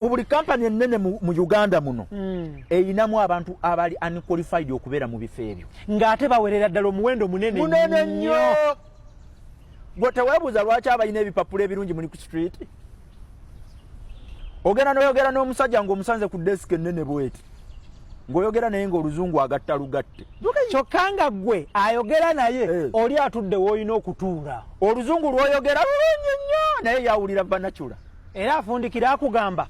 mu buli kampani ennene mu uganda muno hmm. erinamu abantu abali unqualified okubeera mu bifo ebyo ng'ate bawerera ddala omuwendo munene munene nnyo gwe teweebuuza lwaki abalina ebipapula ebirungi muli ku street ogenda noyogera n'omusajja ng'omusanze ku desika ennene bweti ng'oyogera naye ng'oluzungu agatta lugatte kyokka nga gwe ayogera naye eh. oli atudde w'olina okutuula oluzungu lw'oyogera lulungi nnyo naye yawulira banacula era afundikira akugamba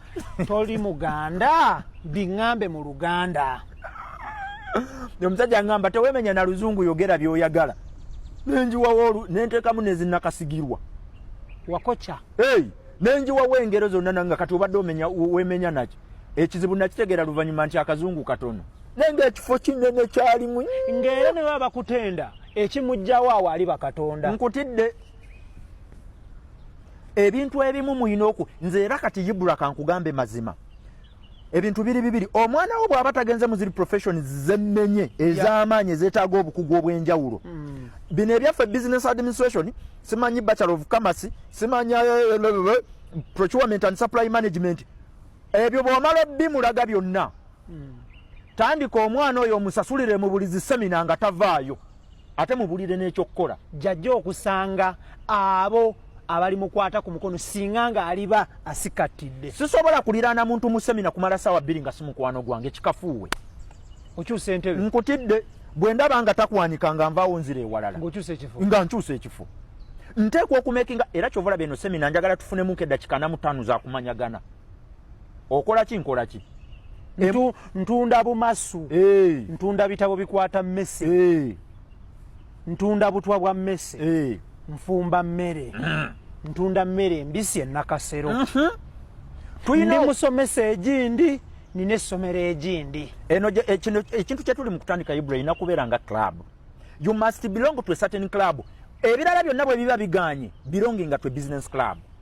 toli muganda biŋambe mu luganda omusajja ngamba tewemenya na luzungu yogera byoyagala nenjiwawo nentekamu nezinakasigirwa wakoca hey, nenjiwawo engero zonna nanga kati obadde omenya wemenya naki ekizibu nakitegeera luvanyuma nti akazungu katono naye ngaekifo kinene kyalimu ngaera newe abakutenda ekimujjawo awo ali bakatonda nkutidde ebintu ebimu muyina oku nze era kati yibura kankugambe mazima ebintu biri bibiri omwana wo bwaba tagenze muziri profession zemenye ezamaanyi ezetaga obukugu obwenjawulo hmm. bino ebyaffe business administration simanyi bachelor of commerce simanyi eh, eh, eh, procurement and supply management ebyo bwomala bimulaga byonna hmm. tandika omwana oyo omusasulire mu buli zisemina nga tavaayo ate mubulire n'ekyokukola jajja okusanga abo abali mukwata ku mukono singa nga aliba asikattidde sisobola kuliraana muntu mu semina kumala saawa bbiri nga si mukwano gwange kikafuuwe okyusa entebe nkutidde bwe ndaba nga takwanika nga nvaawo nzira ewalala nga nkyusa ekifo nteekwa okumekinga era kyovula beno semina njagala tufunemuko eddakika namutaano zakumanyagana okola ki nkola ki ntunda bumasu ntunda bitabo bikwata mmese ntunda butwa bwa mmese nfumba mmere mm. ntunda mmere embisi enakasero mm-hmm. ndi musomesa egindi nina essomero egindi eno ekintu kyetuli mu kutandika ibra erina kubeera nga club you must belong to a certain club ebirala byonna bwe biba biganye belonginga to a business club